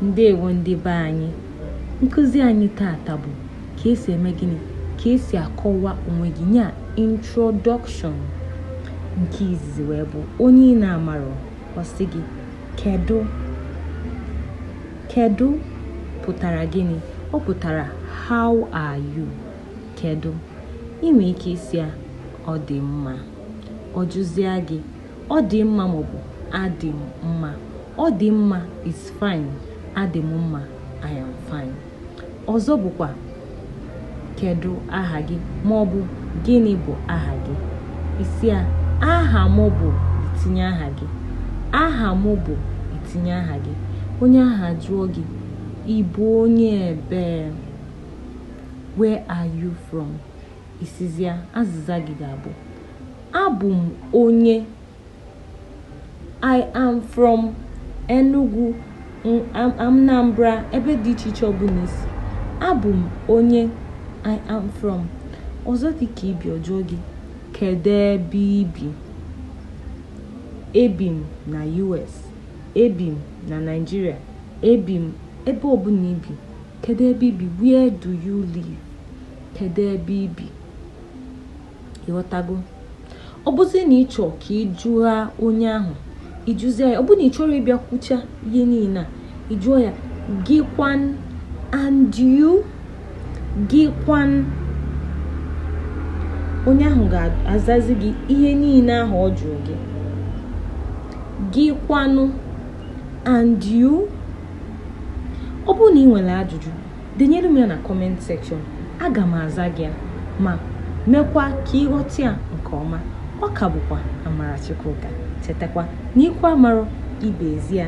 ndewo ndị be anyị nkụzi anyị tata bụ ka esi eme gịnị ka esi akọwa onwe gị nya introduction nke izizi wee bụ onye ị na-amarọ ọ sị gị kedu kedu pụtara gịnị ọ pụtara how are you kedu ị nwere ike ịsị ya ọ dị mma ọ jụzịa gị Ọ dị mma maọbụ adị m mma. Ọ dị mma is fine. Adị m mma I am fine. Ọzọ bụkwa kedụ aha gị maọbụ gịnị bụ aha gị. Ị sị ya aha m bụ i tinye aha gị. Aha m bụ i tinye aha gị. Onye ahụ ajụọ gị ị bụ onye ebee? Where are you from? Ị sịzia, azịza gị ga-abụ abụ m onye I am from Enugu Anambra ebe dị iche iche ọbụla i si abụ m onye I am from ọzọ dị ka i bi ọ jụọ gị kedu ebe i bi ebi m na US ebi m na Naịjirịa ebi m ebe ọbụla i bi Kedu ebe i bi? Where do you live? Kedu ebe i bi? Ị ghọtago? Ọ bụzi na ị chọọ ka ị jụa onye ahụ, ị jụzie ya, ọ bụ na ị chọrọ ịbịa kwucha ihe niile a, ị jụọ ya, gị kwanụ and you, gị kwanụ onye ahụ ga-azazi gị ihe niile ahụ ọ jụrụ gị gị kwanụ and you ọ bụrụ na ị nwere ajụjụ denyere m ya na comment section aga m aza gị ya ma mekwa ka ị ghọta ya nke ọma ọ ka bụkwa amara chukwuka chetakwa na ikwu amarọ ibe ezi ya